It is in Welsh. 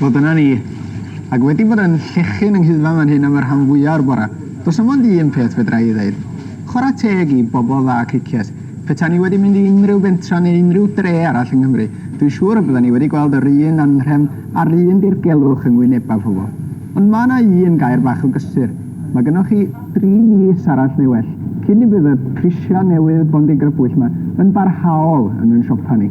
Wel, dyna ni. Ac wedi bod yn llechu'n yng Nghyddfa fan hyn am y rhan fwya' o'r bore, does 'na mond un peth fedra i ei ddeud. Chwarae teg i bobl dda Cricieth. Petai ni wedi mynd i unrhyw bentra neu unrhyw dre arall yng Nghymru, dwi'n siŵr y byddan ni wedi gweld yr un anrhefn a'r un dirgelwch yng ngwynebau pobl. Ond ma' 'na un gair bach o gysur. Mae gynnoch chi dri mis arall neu well cyn i fydd y prisiau newydd bondigrybwyll 'ma yn barhaol yn ein siopa ni.